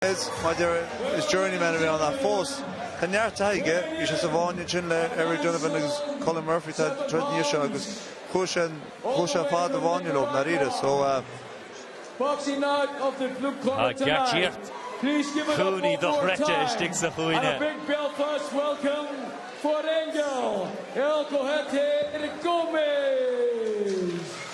Is maidir is journeyman a bhí ann ach fós tá neart taithí aige. Bhí sé sa bhfáinne ansin le Eric Donovan agus Colm Murphy tá troid níos seo agus chuaigh sé chuaigh sé ar fad i bhfáinne leo i ndáiríre so Tá geáitsíocht Cooney dochreidte istigh sa chúinne.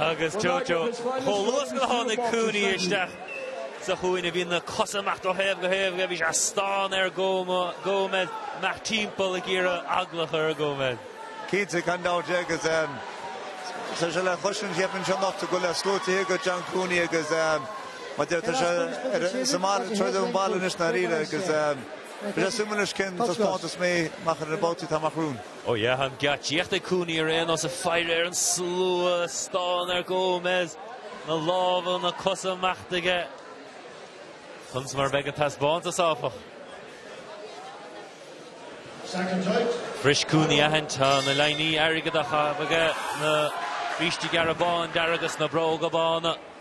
Agus Jojo chomh luas gur tháinig Cooney isteach sa chúinne bhí na cosa amach ó thaobh go taobh aige, bhí sé ag stánadh ar Gomez, ag imeacht timpeall ag iarraidh eagla a chur ar Gomez. Cinnte, gan dabht, agus tá sé le clois an tséipéin seo anocht go bhfuil sluaite aige John Cooney agus mar deir tá sé sa mbaile, ag troid sa mbaile anois i ndáiríre agus bheadh sé suimiúil leis cén taispeántas mé amach ar na babhtaí atá amach romhainn. Ó yeah, an geáitsíocht ag Cooney ar aon nós ag faire ar an slua, ag stánadh ar Gomez, na lámha, na cosa ag imeacht aige, conas mar a bheidh an taispeántas áfach. Furasta Cooney a aithint na lámhainní airgeadacha aige, na brístí gearra bán dearg agus na bróga bána.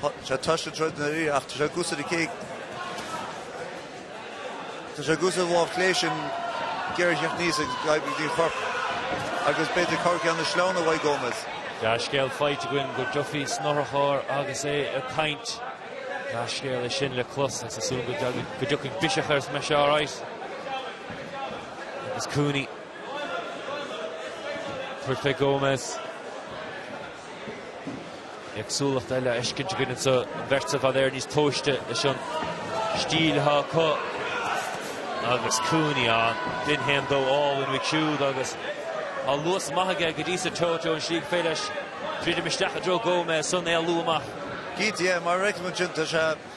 Tá sé tuiscint ag Dundee ach tá sé ag cúrsa ar an chéad. Tá sé ag cúrsa ar lámh chlé sin géar a theacht aníos ag Tadhg Ní Chorp agus b'fhéidir cabhair cheann na sleamhna a bheidh ag Gómez. Dea-scéal faighte againn go bhfuil Duffy san otharcharr agus é ag caint. Dea-scéal é sin le clos agus tá súil againn go dtiocfaidh biseach air is go mbeidh sé alright. Agus Cooney. Tabharfaidh Gómez. Éagsúlacht eile a fheiscint againn anseo, an bheirt seo b'fhéidir níos tomhaiste leis an stíl atá acu agus Cooney an dorn haon dó álainn uaidh siúd agus tá luas maith aige go dtí seo treo treo an slí gur féidir leis druidim isteach i dtreo Gómez, ansan éalú amach. GTM, mar a fheiceann ansin, tá sé.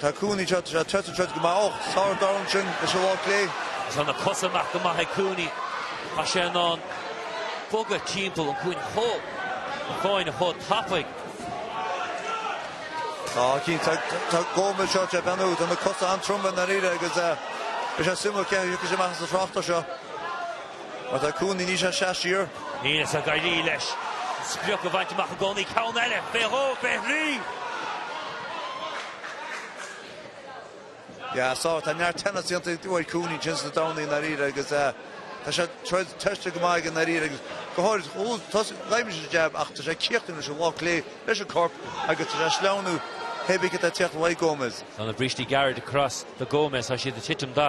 Tá Cooney seo ag troid an troid go maith ó sárdhorn sin leis an lámh clé. Is ann a cosa amach go maith ag Cooney. Tá sé in ann bogadh timpeall an chuain an fháinne chomh tapaidh. Tá cinn tá tá Gómez seo tre beannú. Tá na cosa an-troma i ndáiríre agus eh is é suimiúil cé a thiocfaidh sé amach as an thráchtas seo. Má tá Cooney níl sé ag seasamh siar. Níl sé ag éirí leis an sprioc a bhaint amach i gcónaí. Ceann eile, faoi dhó, faoi thrí. Yeah, so tá neart teannas déanta ag uair Cooney tinn sna Domhnaí i ndáiríre agus tá an troid tosaithe go maith aige i ndáiríre agus go háirid chuaigh tosaigh Gómez ar an jab ach tá sé ag cíochtaíocht leis an lámh clé, leis an corp agus tá sé ag sleamhnú taobh istigh de theach Mhaigh Gómez. Tá na brístí gearra de crois do Gómez, tá siad ag titim de.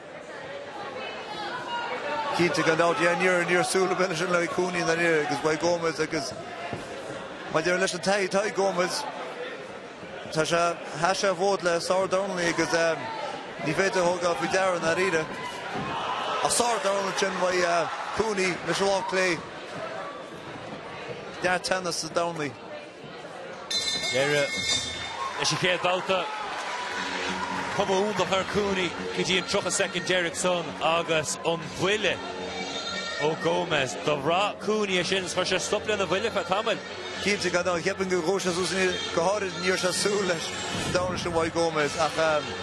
Cinnte, gan dabht, yeah, níor, níor thúisce leis an Loi Cooney ná níor, agus mhaith Gomes agus mar deireadh leis an Tadhg, Tadhg Gómez, tá sé, sheas sé fód le Sár Donnelly agus eh, ní féidir a thabhairt faoi deara i ndáiríre. Ach Sár Donnelly sin Mhaigh eh, Cooney, Micheál Ó Clé, neart teannas sa Donnelly. Deireadh leis an chéad bhabhta. Cuma iontach ar Cooney go dtí an 30 soicind deireanach san agus an buille ó Gomes. Do bhraith Cooney é sin agus chuir sé stop lena bhuille ar feadh tamaill. Cinnte, gan dabht, cheapfainn go raibh sé sásúil ansin go háirithe. Níor sásúil leis an dorn sin ó Gomes ach.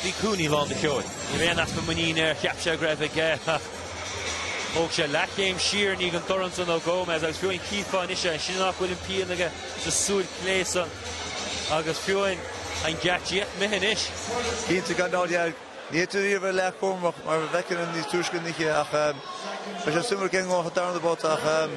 Bhí Cooney lán de cheol. Ní raibh aon easpa muiníne air, cheap sé go raibh aige ach thóg sé leathchéim siar, i ndiaidh an dorn san ó Gomes agus fiú an chífeá anois é, nach bhfuil aon phian aige sa tsúil chlé san agus fiú an gceart díot mithe anois. Cinnte gan dabht, ní mór dó bheith an-chúramach mar bhfeiceann an níos tuisce niche ach ehm, Tá sé suimiúil sa darna babhta ach ehm,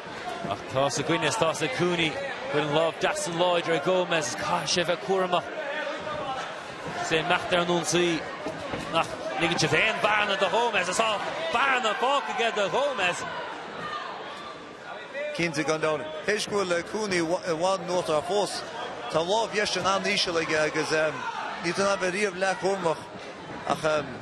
Ach tá's againne is tá's ag Cooney. Go bhfuil an lámh dheas san láidir ag Gomes is caithfidh sé a bheith cúramach. Is é ag imeacht ar an ionsaí nach ligeann sé aon bhearna do Ghomes is tá bearna fágtha aige do Ghomes. Cinnte, gan dabht. Tar éis go bhfuil Cooney i bhfad níos aclaí fós, tá an lámh dheis sin an-íseal aige agus ní mór dó a bheith an-chúramach ach.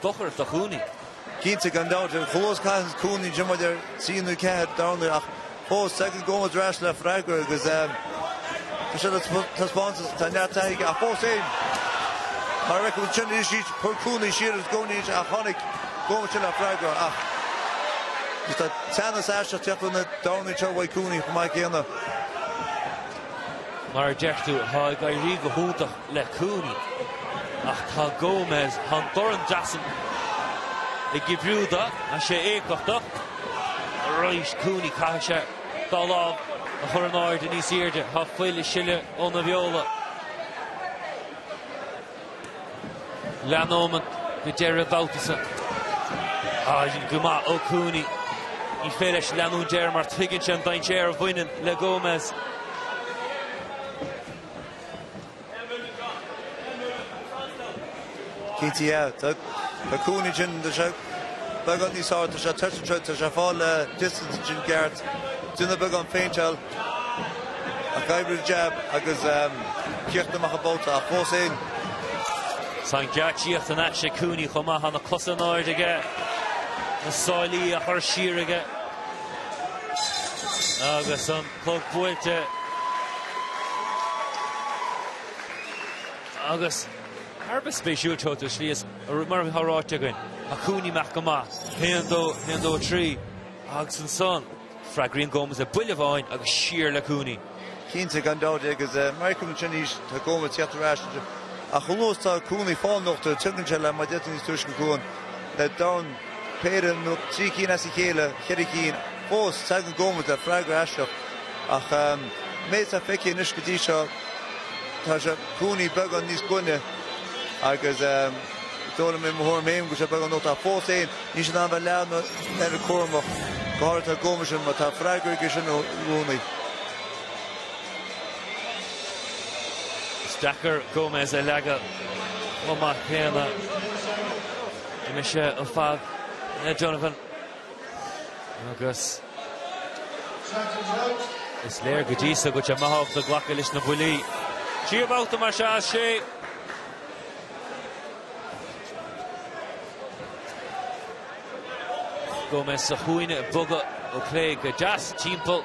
dochar do Cooney. Cinnte, gan dabht, ar ndóigh caithfidh Cooney b'fhéidir trí nó ceathair dorn ach fós, tagann sé i gcónaí ar ais le freagra agus tá sé á thaispeáint, tá neart taithí aige ach fós féin. Mar a fheicim ansin, iris Eat, chuir Cooney siar is Cooney anois ach tháinig Cooney ar ais le freagra ach is tá teannas isteach ag teacht ar na dornúin seo a bhfaighidh Cooney chomh maith céanna. Mar a deir tú, tá ag éirí go hiontach le Cooney ach tá Gomes tá an dorn deas san ag oibriú dó, tá sé éifeachtach arís. Cooney, caithfidh sé a dhá lámh a chur in airde níos airde. Tá fuil ag sileadh óna bheola. Leanúint go deireadh an bhabhta so go maith ó Cooney. Ní féidir leis leanúint air mar tuigeann sé an dainséar a bhaineann le Gomes. Caithfidh sé an lámh sin a choimeád beagán níos airde. Tá sé tuirseach anseo. Tá sé ag fáil le distance ansin ceart. Déanamh beagán phéinteáil ach oibriú an jab agus críochnú amach an babhta ach fós féin. Tá an ghaoth ag imeacht as Cooney chomh maith. Tá na cosa in airde aige. Na sáilí á chur siar aige agus an. Clog buailte agus thar a bheith spéisiúil seo do Shlí is mar atá ráite againn, tá Cooney amach go maith, 1-2, 1-2-3 agus ansan freagraíonn Gomez le buille amháin agus siar le Cooney. Cinnte, gan dabht, agus mar a fheicim ansin arís, tá Gomez ag tíocht ar ais anseo ach anuas tá Cooney fá nochtadh, tiocfaidh sé le mar déantar níos túisce chugainn le domhan. péire nó trí cinn as a chéile, cheithre cinn fós, teagann Gómez le freagra isteach ach an méid atá feicthe anois go dtí seo tá sé Cooney beagán níos glaine agus d'fhoghlaim mé mo thuairim féin go sé beag an locht ach fós féin ní sin an bheith leath ná deireadh cúramach go háirithe tá Gómez sin mar tá freagra aige sin i gcónaí. Is deacair Gómez a leagadh chomh maith céanna. Bhí mise an fad le Jonathan agus is léir go dtí so go dtí maith agat a ghlacadh leis na buillí. Tríú babhta mar seo as sé. Gomez sa chúinne ag bogadh ó chlé go deas timpeall.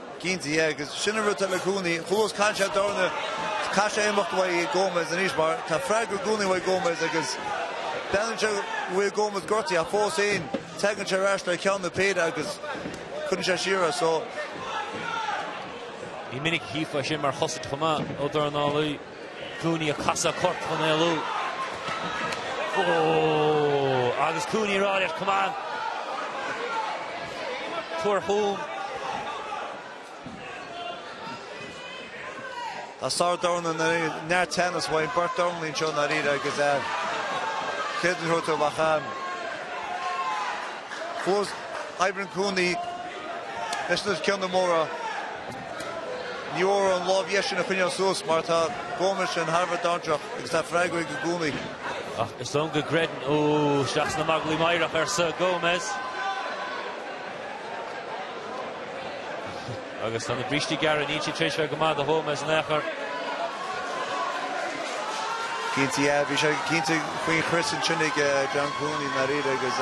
Cinnte, yeah agus sin an rud atá le Cooney, chualas caill sé dorna, caithfidh sé imeacht uaidh Gomez anois mar tá freagra i gcónaí uaidh Gomez agus breathnaíonn sé uaidh Gomez gortaithe ach fós féin teagann sé ar ais le ceann nó péire agus cuireann sé siar as so. Ní minic a chífeá sin mar chosaint chomh maith, ó dornálaí. Cooney ag casadh corp chun éalú. Ooh! Agus Cooney a rá leis, Come on! Tabhair chugam! Tá sárdhornálaí ina neart teannas uainn, beirt dornálaí anseo ndáiríre agus é céad an Ghorta Mhachain. Fós, oibríonn Cooney leis na ceanna móra. Ní foláir an lámh dheis sin a choinneáil suas mar tá Gómez sin thar a bheith dainséarach agus tá freagra aige i gcónaí. Ach is dóigh go gcreideann Ó isteach sna magairlí meidhreach, arsa Gómez. Agus tá na brístí gearra, níl siad tréis a bheith go maith do Ghómez in aon chor. Cinnte, yeah, bhí sé cinnte faoin chrios ansin ag John Cooney, nár fhíor, agus.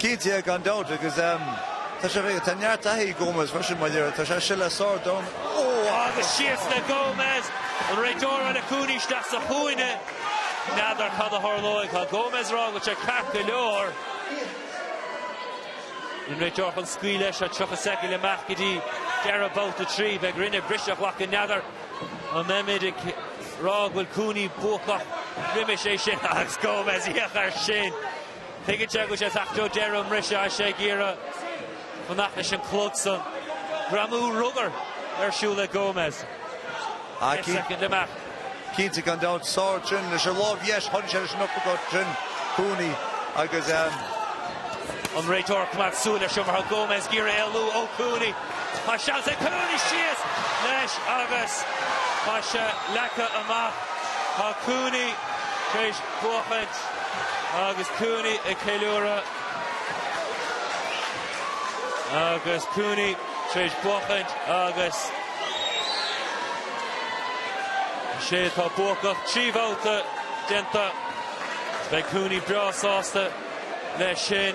Cinnte, gan dabht agus tá sé fé, tá neart taithí ag Gómez freisin má léir, tá sé sileadh sárdhorn, ó agus síos le Gómez, an réiteoir le Cooney isteach sa chúinne? N'fheadar cad a tharlóidh, tá Gómez a rá go bhfuil sé ceart go leor, an réiteoir chun scaoileadh leis seo 30 soicind amach go dtí deireadh babhta a trí, beidh orainne briseadh a ghlacadh n'fheadar an mbeimid ag rá go bhfuil Cooney buacach roimis é sin agus Gómez ag íoc air sin. Tuigeann sé go sé faic Joe deireadh an mbriseadh as sé ag iarraidh fanacht leis an chlog san. Greamú rugbaí ar siúl le Gomez. Deich soicind amach. Cinnte, gan dabht. Sár trin leis an lámh dheis. Tharraing sé leis an uppercut trin Cooney agus. An réiteoir coimeád súil leis mar tá Gomez ag iarraidh éalú ó Cooney. Tá seans ag Cooney síos leis agus tá sé leagtha amach. Tá Cooney tar éis. buachaint agus Cooney ag ceiliúradh agus Cooney tar éis buachaint agus is é atá buacach trí bhabhta déanta. Is beidh Cooney breá sásta leis sin.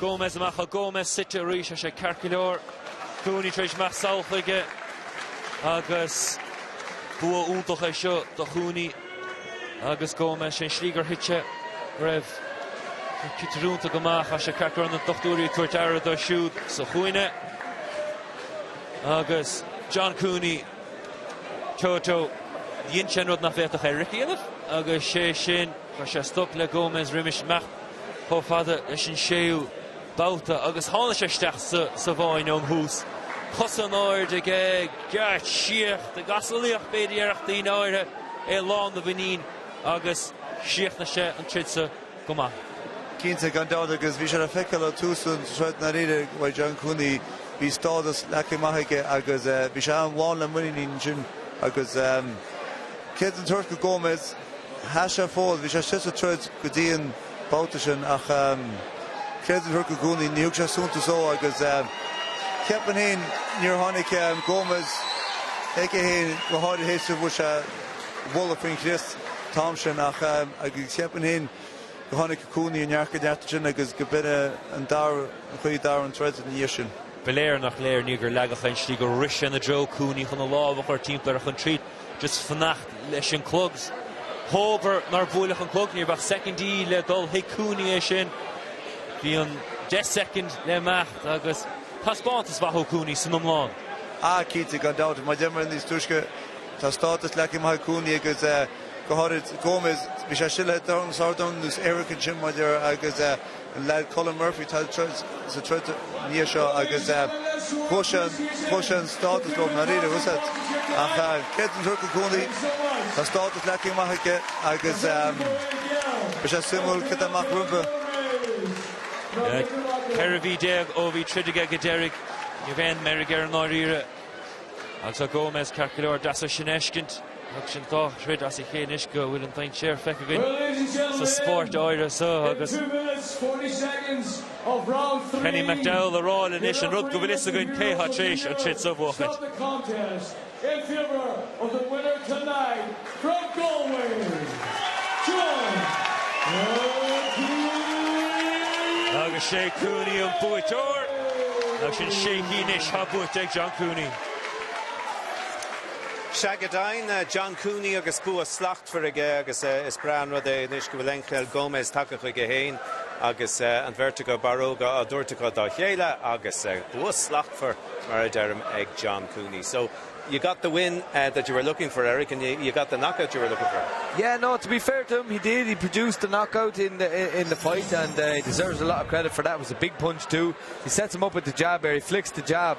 Gomes amach ó Gomes suite arís tá sé ceart go leor. Cooney tar éis imeacht sall chuige agus bua iontach é seo do Chooney agus Gomes. Sé an slí gur thit sé go raibh an citir iontach amach tá sé ceart go leor. Na dochtúirí ag tabhairt aire dó siúd sa chúinne agus John Cooney, Toto, dhein sé an rud nach bhféadfadh Eric a dhéanamh agus sé sin stop a chur le Gomes roimis imeacht. chomh fada leis an séú babhta agus tháinig sé isteach sa bhfáinne ón thús. Cosa in airde aige, geáitsíocht i gcasalaíocht b'fhéidir a déarfadh daoine áirithe é lán de mhuinín agus chríochnaigh sé an troid seo go maith. Cinnte, gan dabht, agus bhí sé le feiceáil ó thús an troid nár ith i bhfad John Cooney. Bhí stádas leagtha amach aige agus bhí sé ann lán le muinín ansin agus ceart a thabhairt go Gomez? Sheas sé an fód, bhí sé suite sa troid go dtí an babhta sin ach creidim gur Cooney ní thug sé suntas dhó agus cheap mé féin níor tháinig Gomes chuige féin go háirithe théis a bhfuair sé buille faoin chrios an t-am sin ach agus cheap mé féin go tháinig Cooney i ndearcadh neart ansin agus go binne an dara an chaoi dara an troid ina dhiaidh sin. Ba léir nach léir ní gur leagadh fén slí go rith sé i dtreo Cooney chun a lámh a chur timpeall air chun triail. Just fanacht leis an clog. Hóbair nár bhuailfeadh an clog, ní raibh ach soicindí le dul thuig Cooney é sin. Bhí an deich soicind le n-imeacht agus taispeántas maith ó Cooney san iomlán. Ah, cinnte, gan dabht. Mar a dúirt mé níos túisce, tá stádas leagtha amach ag Cooney agus go háirid Gomez. Bhí sé istigh le Dorrans Hardoon, nó is Eric ansin mar a deir, agus. Le Colm Murphy atá sa troid ina dhiaidh seo agus chuaigh sé an stádas leo mar fhírinne usaid. Ach tá mé den tuairim go Cooney, tá stádas leagtha amach aige agus beidh sé suimiúil cé tá amach rompu. 14 mhí ó bhí troid aige go deiridh, ní raibh aon meirg air i ndáiríre. Agus tá Gomez, ceart go leor, deas é sin a fheiscint. Tagann sin dhá throid as a chéile anois go bhfuil an dainséar feicthe againn sa spórt áirithe seo agus Kenny McDowell ag rá linn anois an rud go bhfuil a fhios againn cé atá tar éis an troid seo a bhuachaint. Agus sé Cooney an buaiteoir. Agus sin sé KO anois atá buaite ag John Cooney. Sea, go deimhin, John Cooney agus bua slachtmhar aige agus is breá an rud é anois go bhfuil Angel Gomes tagtha chuige féin agus an bheirt acu, barróga á dtabhairt acu dá chéile agus bua slachtmhar, mar a deirim, ag John Cooney. So, you got the win that you were looking for, Eric, and you, you got the knockout you were looking for. Yeah, no, to be fair to him, he did. He produced the knockout in the, in the fight and uh, he deserves a lot of credit for that. It was a big punch too. He sets him up with the jab there. He flicks the jab.